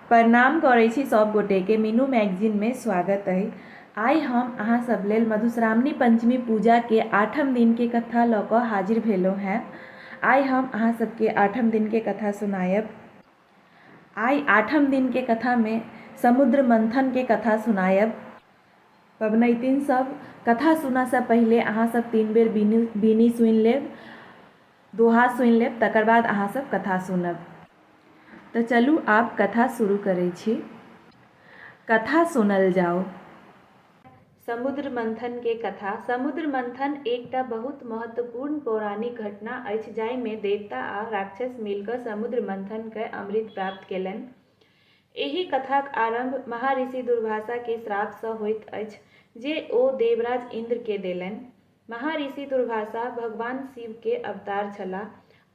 प्रणाम करै छी सब गोटे के मीनू मैगजीन मे स्वागत अहि आइ हम अहाँ सब लेल मधुश्रावणी पंचमी पूजा के आठम दिन के कथा लऽ कऽ हाजिर भेलहुँ हैं आइ हम अहाँ सब के आठम दिन के कथा सुनायब आइ आठम दिन के कथा मे समुद्र मंथन के कथा सुनायब पबनैतिन सब कथा सुनऽ सँ पहिले अहाँ सब तीन बेर बीनी बीनी सुनि लेब। दोहा सुनि लेब तकर बाद अहाँ सब कथा सुनब तऽ चलू आब कथा शुरू करै छी कथा सुनल जाओ समुद्र मंथन के कथा समुद्र मंथन एकटा बहुत महत्वपूर्ण पौराणिक घटना अछि जाहिमे देवता आ राक्षस मिलकर समुद्र मंथन के अमृत प्राप्त केलनि एहि कथाक आरंभ महाऋषि दुर्वासा के श्राप से होइत अछि जे ओ देवराज इंद्र के देलनि महाऋषि दुर्वासा भगवान शिव के अवतार छलाह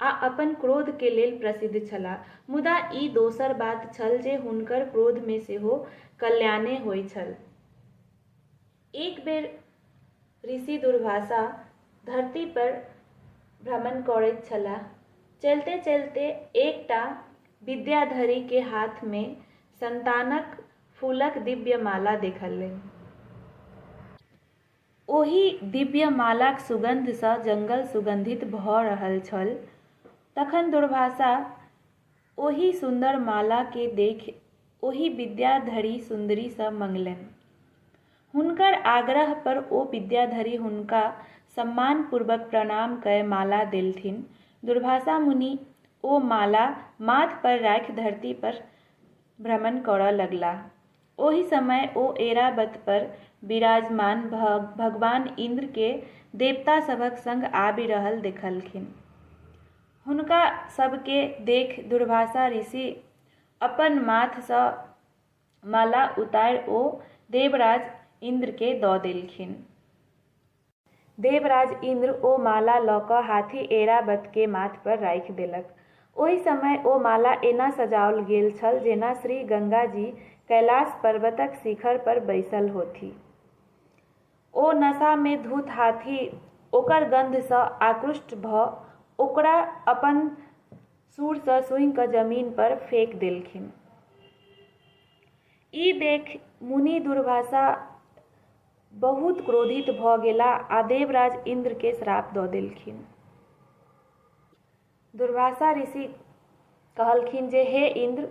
आ अपन क्रोध के लेल प्रसिद्ध छलाह। मुदा ई दोसर बात छल जे हुनकर क्रोध मे सेहो कल्याणे होई छल। एक बेर ऋषि दुर्वासा धरती पर भ्रमण करैत छलाह। चलिते-चलिते एकटा विद्याधरी के हाथ मे संतानक फूलक दिव्य माला देखलनि। ओहि दिव्यमालाक सुगन्धसँ जंगल सुगन्धित भऽ रहल छल। तखन दुर्वासा ओहि सुन्दर मालाकेँ देखि ओहि विद्याधरी सुन्दरीसँ मंगलनि। हुनकर आग्रहपर ओ विद्याधरी हुनका सम्मानपूर्वक प्रणाम कए माला देलथिन। दुर्वासा मुनि ओ माला माथपर राखि धरतीपर भ्रमण करऽ लगलाह। ओहि समय ओ ऐरावत पर विराजमान भऽ भगवान इन्द्र के देवता सभक संग आबि रहल देखलखिन। हुनका सब के देखि दुर्वासा ऋषि अपन माथ सँ माला उतारि ओ देवराज इन्द्र के दऽ देलखिन। देवराज इन्द्र ओ माला लऽ कऽ हाथी ऐरावतकेँ माथपर राखि देलक। ओहि समय ओ माला एना सजाओल गेल छल जेना श्री गंगाजी कैलाश पर्वतक शिखरपर बैसल होथि। ओ नशामे धुत्त हाथी ओकर गन्धसँ आकृष्ट भऽ ओकरा अपन सूँड़सँ सूँघि कऽ जमीनपर फेकि देलखिन। ई देखि मुनि दुर्वासा बहुत क्रोधित भऽ गेला आ देवराज इन्द्र के श्राप दऽ देलखिन। दुर्वासा ऋषि कहलखिन जे हे इन्द्र,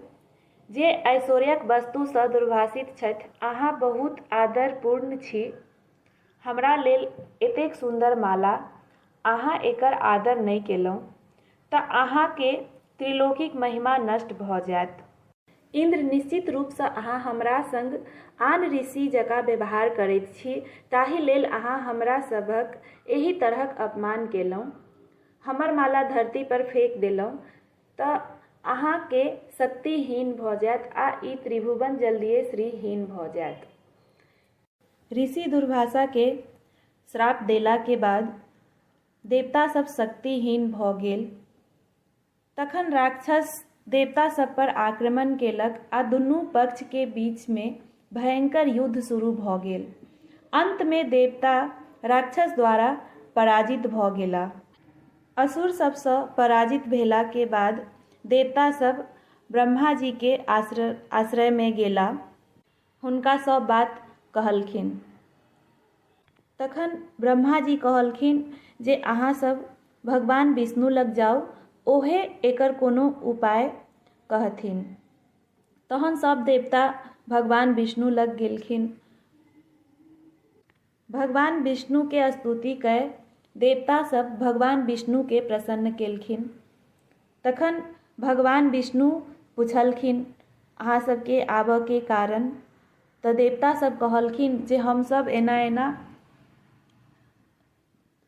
जे ऐश्वर्यक वस्तु सँ दुर्वासित छथि, अहाँ बहुत आदरपूर्ण छी, हमरा लेल एतेक सुन्दर माला अहाँ एकर आदर नहि केलहुँ तँ अहाँकेँ त्रिलोकीक महिमा नष्ट भऽ जाएत। इन्द्र, निश्चित रूपसँ अहाँ हमरा संग आन ऋषि जकाँ व्यवहार करैत छी, ताहि लेल अहाँ हमरा सभक एहि तरहक अपमान केलहुँ। हमर माला धरती पर फेंक देलहुँ तँ अहाँकेँ शक्तिहीन भऽ जाएत आ ई त्रिभुवन जल्दिये श्रीहीन भऽ जाएत। ऋषि दुर्वासा के श्राप देला के बाद देवता सब शक्तिहीन भ गेल तखन राक्षस देवता सब पर आक्रमण केलक आ दुनू पक्ष के बीच में भयंकर युद्ध शुरू भ गेल अंत में देवता राक्षस द्वारा पराजित भ गेला असुर सबसँ पराजित भेला के बाद देवता सब ब्रह्मा जी के आश्रय आश्रय में गेला हुनका सब बात कहलखिन तखन ब्रह्मा जी कहलखिन जे अहाँ सब भगवान विष्णु लग जाउ ओहे एकर कोनो उपाय कहथिन तहन सब देवता भगवान विष्णु लग गेलखिन भगवान विष्णुकेँ स्तुति कए देवता सभ भगवान विष्णुकेँ प्रसन्न केलखिन। तखन भगवान विष्णु पुछलखिन, अहाँ सभकेँ आबएकेँ कारण? तँ देवता सभ कहलखिन जे हम सभ एना-एना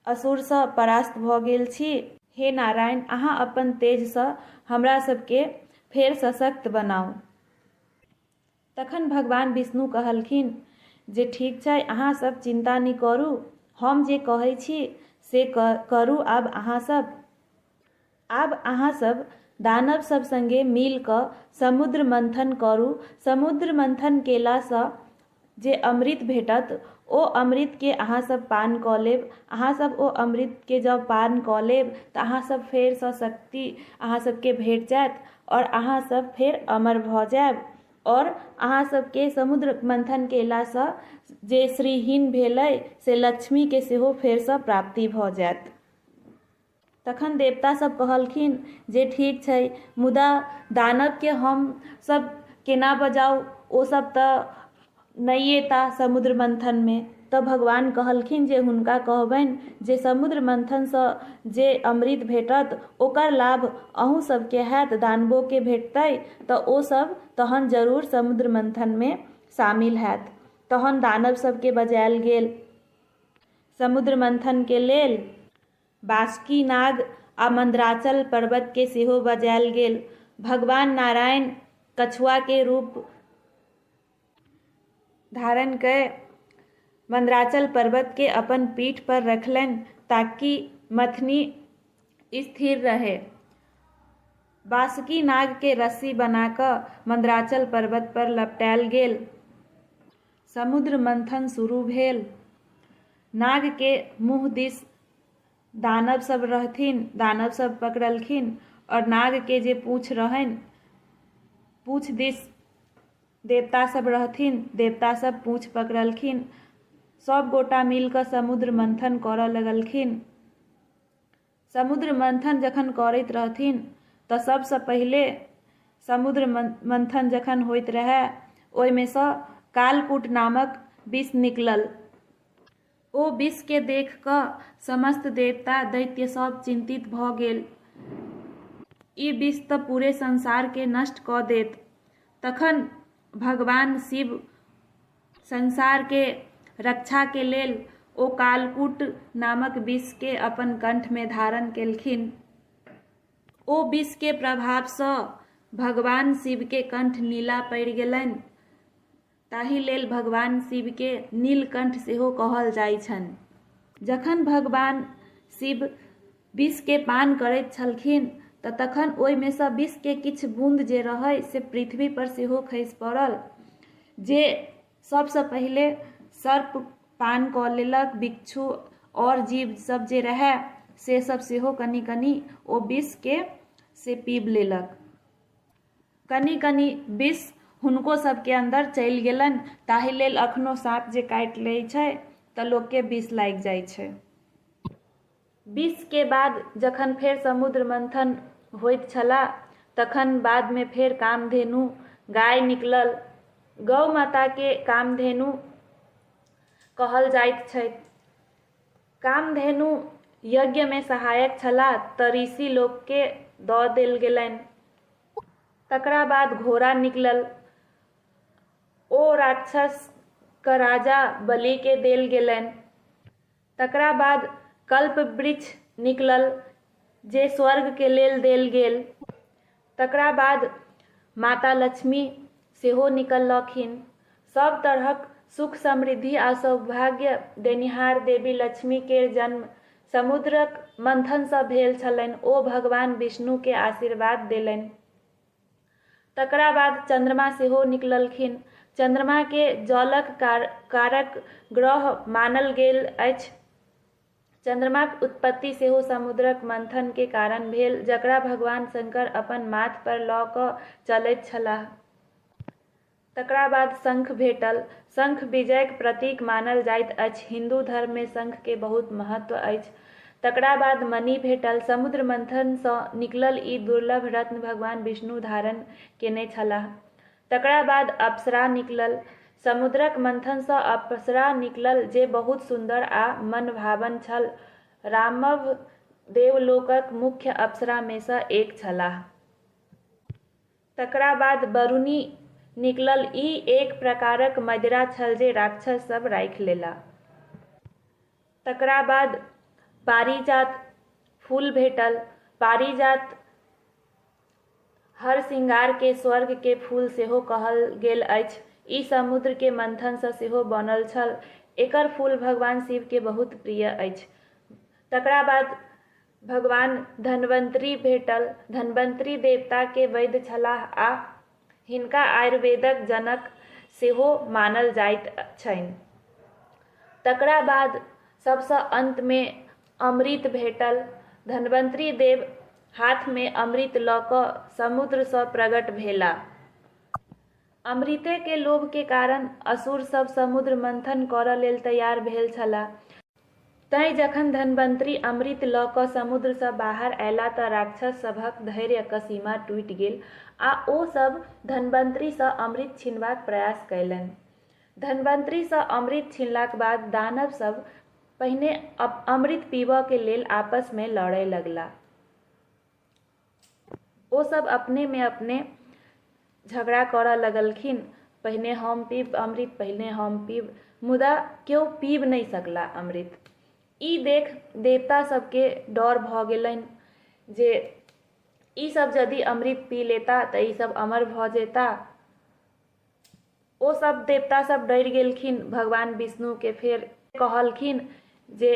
असुरसँ परास्त भऽ गेल छी। हे नारायण! अहाँ अपन तेजसँ हमरा सभकेँ फेर सशक्त बनाउ। तखन भगवान विष्णु कहलखिन जे ठीक छै अहाँ सब चिन्ता नहि करू हम जे कहै छी से करू आब अहाँ सब आब अहाँ सब दानव सब संगे मिल कऽ समुद्र मंथन करू समुद्र मंथन केलासँ जे अमृत भेटत ओ अमृतके अहाँसभ पान कऽ लेब अहाँसभ ओ अमृतके जब पान कऽ लेब तऽ अहाँसभ फेरसँ शक्ति अहाँसभके भेट जायत आओर अहाँ सब फेर अमर भऽ जायब आओर अहाँ सबके समुद्र मन्थन कयलासँ जे श्रीहीन भेलै से लक्ष्मीके सेहो फेरसँ प्राप्ति भऽ जायत तखन देवता सब कहलखिन जे ठीक छै मुदा दानवके हमसब केना बजाउ ओ सब तऽ नहि एता समुद्र मन्थनमे तऽ भगवान कहलखिन जे हुनका कहबनि जे समुद्र मन्थनसँ जे अमृत भेटत ओकर लाभ अहूँ सबके होयत दानवोके भेटतै तऽ ओ सब तहन जरूर समुद्र मन्थनमे शामिल होयत तहन दानव सबके बजायल गेल समुद्र मन्थनके लेल बासुकी नाग आ मन्द्राचल पर्वतके सेहो बजायल गेल भगवान नारायण कछुआके रूप धारण कय मंदराचल पर्वत के अपन पीठ पर रखलनि ताकि मथनी स्थिर रहे बासुकी नाग के रस्सी बना क मंदराचल पर्वत पर लपटायल गेल समुद्र मंथन शुरू भेल नाग के मुंह दिस दानव सब रहथिन दानव सब पकड़लखिन और नाग के जे पूछ रहनि पूछ दिस देवतासभ रहथिन देवतासभ पूँछ पकड़लखिन सभ गोटा मिल कऽ समुद्र मन्थन करऽ लगलखिन समुद्र मन्थन जखन करैत रहथिन तऽ सभसँ पहिले समुद्र मन्थन जखन होइत रहै ओहिमेसँ कालकूट नामक विष निकलल ओ विषकेँ देख कऽ समस्त देवता, दैत्य सभ चिन्तित भऽ गेल। ई विष तँ पूरे संसारकेँ नष्ट कऽ देत। तखन भगवान शिव संसारकेँ रक्षाकेँ लेल ओ कालकूट नामक विषकेँ अपन कण्ठमे धारण केलखिन। ओ विषकेँ प्रभावसँ भगवान शिवकेँ कण्ठ नीला पड़ि गेलनि। ताहि लेल भगवान शिवके नीलकण्ठ सेहो कहल जाइत छनि जखन भगवान शिव विषके पान करैत छलखिन तऽ तखन ओहिमेसँ विषके किछु बून्द जे रहै से पृथ्वी पर सेहो खसि पड़ल जे सभसँ पहिले सर्प पान कऽ लेलक भिक्षु आओर जीव सभ जे रहै से सभ सेहो कनि कनि ओ विषके से पीब लेलक कनी कनी विष हुनको सबके अन्दर चलि गेलनि ताहि लेल अखनो साँप जे काटि लै छै तऽ लोकके विष लागि जाइ छै विषके बाद जखन फेर समुद्र मंथन होइत छला तखन बादमे फेर कामधेनु गाय निकलल गौ माताके कामधेनु कहल जाइत छै कामधेनु यज्ञमे सहायक छलाह तँ ऋषि लोककेँ दऽ देल गेलनि। तकरा बाद घोड़ा निकलल। ओ राक्षस कऽ राजा बलिकेँ देल गेलनि। तकरा बाद कल्पवृक्ष निकलल जे स्वर्गकेँ लेल देल गेल। तकरा बाद माता लक्ष्मी सेहो निकललखिन सब तरहक सुख समृद्धि आ सौभाग्य देनिहार देवी लक्ष्मी के जन्म समुद्रक मंथन सँ भेल छलनि ओ भगवान विष्णु के आशीर्वाद देलनि तकरा बाद चंद्रमा सेहो निकललखिन चंद्रमा के जलक कारक ग्रह मानल गेल अछि चन्द्रमाक उत्पत्ति सेहो समुद्रक मंथन के कारण भेल जकरा भगवान शंकर अपन माथ पर लऽ कऽ चलैत छलाह। तकरा बाद शंख भेटल। शंख विजयक प्रतीक मानल जाइत अछि। हिन्दू धर्म मे शंख के बहुत महत्व अछि। तकरा बाद मणि भेटल। समुद्र मंथन सँ निकलल ई दुर्लभ रत्न भगवान विष्णु धारण केने छलाह। तकरा बाद अप्सरा निकलल। समुद्रक मंथनसँ अप्सरा निकलल जे बहुत सुन्दर आ मनभावन छल। रामव देवलोकक मुख्य अप्सरामेसँ एक छलाह। तकरा बाद वरुणी निकलल। ई एक प्रकारक मदिरा छल जे राक्षस सभ राखि लेलाह। तकरा बाद पारिजात फूल भेटल। पारिजात हर श्रृंगार के स्वर्ग के फूल सेहो कहल गेल अछि। ई समुद्र के मंथन सँ सेहो बनल छल। एकर फूल भगवान शिव के बहुत प्रिय अछि। तकरा बाद भगवान धन्वंतरी भेटल। धन्वंतरी देवता के वैद्य छलाह आ हिनका आयुर्वेदक जनक सेहो मानल जाइत छनि। तकरा बाद सबसँ अन्तमे अमृत भेटल। धन्वन्तरि देव हाथमे अमृत लऽ कऽ समुद्रसँ प्रगट भेलाह। अमृतेके लोभके कारण असुरसभ समुद्र-मन्थन करऽ लेल तैयार भेल छलाह। तँए जखन धन्वन्तरी अमृत लऽ कऽ समुद्रसँ बाहर अएला तँ राक्षस सभक धैर्यक सीमा टूटि गेल आ ओ सभ धन्वन्तरीसँ अमृत छीनबाक प्रयास कएलनि। धन्वन्तरीसँ अमृत छीनलाक बाद दानव सभ पहिने अमृत पीबएक लेल आपसमे लड़ए लगला। ओ सब अपने में अपने झगड़ा करऽ लगलखिन पहिने हम पीब अमृत पहिने हम पीब मुदा केओ पीब नहि सकला अमृत ई देख देवता सबके डर भऽ गेलनि जे ई सब यदि अमृत पी लेता तऽ ई सब अमर भऽ जेता ओ सब देवता सब डर गेलखिन भगवान विष्णु के फिर कहलखिन जे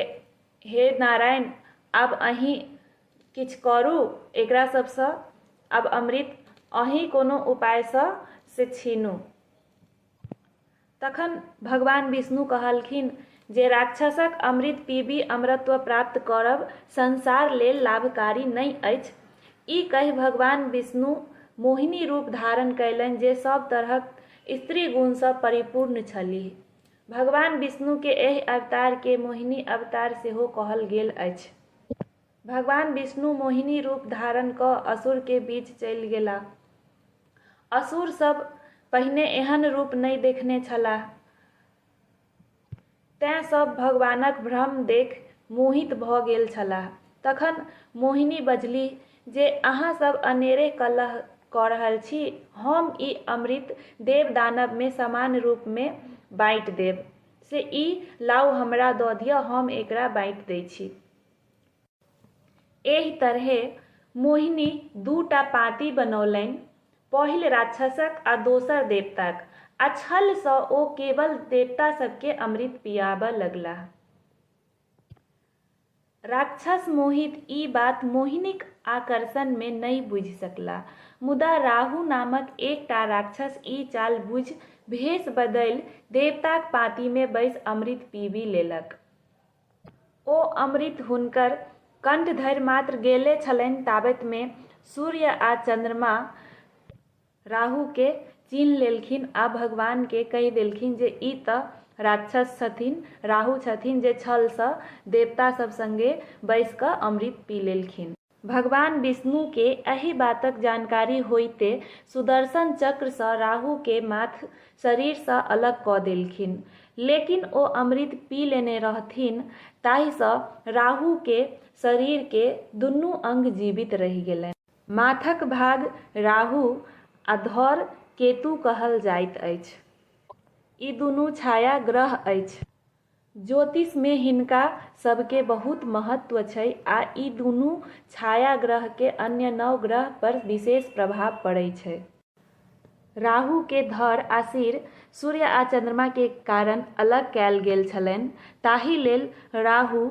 हे नारायण अब अही किछ करू एकरा सबसँ अब अमृत अही कोनो उपाय से से छीनू तखन भगवान विष्णु कहलखिन जे राक्षसक अमृत पीबि अमरत्व प्राप्त करब संसार लेल लाभकारी नहि अछि। ई कहि भगवान विष्णु मोहिनी रूप धारण कयलनि जे सभ तरहक स्त्री गुणसँ परिपूर्ण छलीह। भगवान विष्णुकेँ एहि अवतारकेँ मोहिनी अवतार सेहो कहल गेल अछि। भगवान विष्णु मोहिनी रूप धारण कऽ असुरकेँ बीच चलि गेलाह। असुर सभ पहिने एहन रूप नहि देखने छलाह। तेँ सभ भगवानक भ्रम देखि मोहित भऽ गेल छलाह। तखन मोहिनी बजलीह जे अहाँ सभ अनेरे कलह कऽ रहल छी। हम ई अमृत देव-दानवमे समान रूपमे बाँटि देब। से ई लाउ हमरा दऽ दिअ, हम एकरा बाँटि दै छी। एहि तरहें मोहिनी दू टा पाँति बनौलनि, पहिल राक्षसक आ दोसर देवताक, आ छल सँ ओ केवल देवता सभ केँ अमृत पियाबऽ लगलाह। राक्षस मोहित ई बात मोहिनीक आकर्षण मे नहि बुझि सकलाह। मुदा राहु नामक एक टा राक्षस ई चाल बुझि भेष बदलि देवताक पाँति मे बैसि अमृत पीबि लेलक। ओ अमृत हुनकर कंठ धरि मात्र गेले छलनि ताबैत मे सूर्य आ चन्द्रमा राहु के चीन्ह लेलखिन आ भगवान के कहि देलखिन जे ई त राक्षस छथिन, राहु छथिन जे छल सँ देवता सभ संगे बैस क अमृत पी लेलखिन। भगवान विष्णुकेँ एहि बातक जानकारी होइते सुदर्शन चक्रसँ राहुकेँ माथ शरीरसँ अलग कऽ देलखिन। लेकिन ओ अमृत पी लेने रहथिन ताहिसँ राहुकेँ शरीरकेँ दुनू अंग जीवित रहि गेलनि। माथक भाग राहु आ धड़ केतु कहल जाइत अछि। ई दुनू छाया ग्रह अछि। ज्योतिषमे हिनका सभके बहुत महत्व छइ आ ई दुनू छाया ग्रहके अन्य नौ ग्रह पर विशेष प्रभाव पड़इ छइ। राहुके धड़ आ सिर सूर्य आ चन्द्रमाके कारण अलग कैल गेल छलइन, ताहि लेल राहु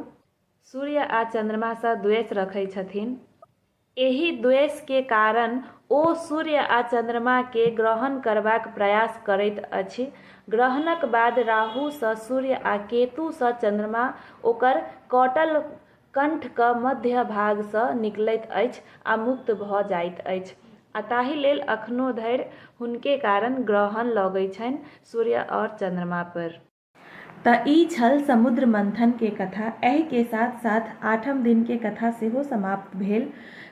सूर्य आ चन्द्रमासँ द्वेष रखइ छथिन। एहि द्वेष के कारण ओ सूर्य आ चन्द्रमा के ग्रहण करबाक प्रयास करैत अछि। ग्रहणक बाद राहु सँ सूर्य आ केतु सँ चन्द्रमा ओकर कटल कण्ठ क मध्य भाग सँ निकलैत अछि आ मुक्त भ जाइत अछि। आ ताहि लेल अखनो धरि हुनके कारण ग्रहण लगै छनि सूर्य और चन्द्रमा पर। त ई छल समुद्र मंथन के कथा। ऐह के साथ साथ आठम दिन के कथा सेहो समाप्त भेल।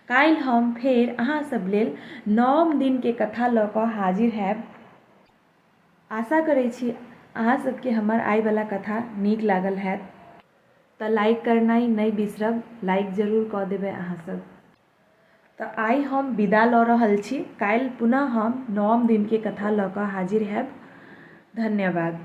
काल्हि हम फेर अहाँ सब लेल नौम दिन के कथा ल क हाजिर हैब। आशा करैत छी अहाँ सब के हमर आइ बला कथा नीक लागल हैत। त लाइक करनाइ नइ बिसरब। लाइक जरूर क देबै अहाँ सब। त आइ हम विदा ल रहल छी। काल्हि पुनः हम नवम दिन के कथा ल क हाजिर हैब। धन्यवाद।